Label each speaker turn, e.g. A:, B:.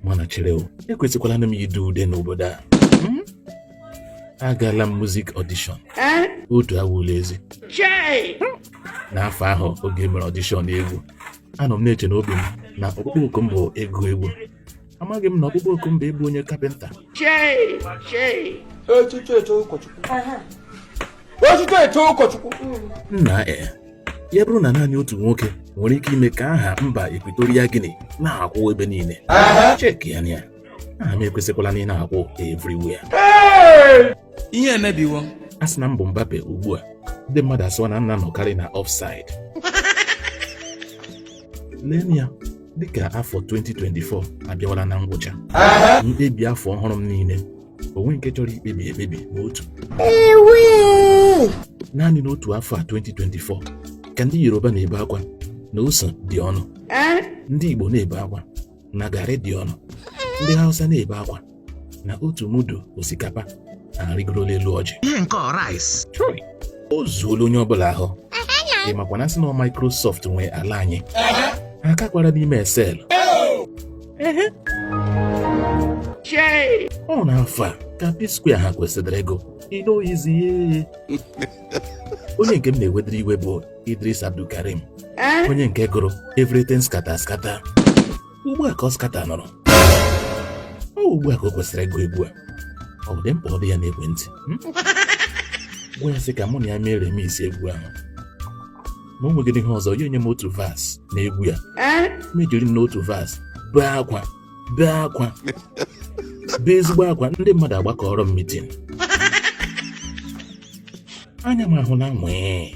A: mana chere o ekwesịkwala nụ m ide ude n'obodo a hmm? agala m muzik ọdishọn eh? otu awụla ezi n'afọ ahụ oge e mere ọdishọn egwu anọ m na-eche n'obi m na ọkpụkpọ oku m bụ ịgụ egwu amaghị m na ọkpụkpọ oku m bụ ịbụ onye kapịnta echiche eche Chukwu nna e ya bụrụ na naanị otu nwoke nwere ike ime ka aha mba Ekwitoria Gini na-akwụ ebe niile cheki ya na aha m ekwesịkwala nụ ịna-akwụ everywhere ihe emebiwo a sị na m bụ Mbappe ugbu a ndị mmadụ asịwa na m na-anọkarị na offside lee ya dịka afọ 2024 abịawala na ngwụcha mkpebi afọ ọhụrụ m niile o nweghị nke chọrọ ikpebi ekpebi ma otu naanị n'otu afọ a 2024 ka ndị Yoruba na-ebe akwa na ose dị ọnụ eh? ndị Igbo na-ebe akwa na garị dị ọnụ ndị Hausa na-ebe akwa na otu mudu osikapa arịgorola elu ọjị ihe nke rice o zuola onye ọbụla ahụ ị makwa na a sị na Microsoft nwe ala anyị ha kakwara n'ime Excel ọ na afọ a ka P-Square ha kwesịdịrị ịgụ E no easy onye nke m na-ewedịrị iwe bụ Eedris Abdulkareem onye nke gụrụ everything scatter scatter ugbu a ka ọ skata nọrọ ọ ugbu a ka o kwesịrị ịgụ egwu a ọ bụdị m kpọọdụ ya n'ekwentị gwa ya sị ka mụ na ya mee remix egwu ahụ na o nweghị ihe ọzọ ya enye m otu verse n'egwu a m ejiri nnọọ otu verse bee akwa bee akwa bee ezigbo akwa ndị mmadụ agbakọọrọ m mitin anya m ahụna nwii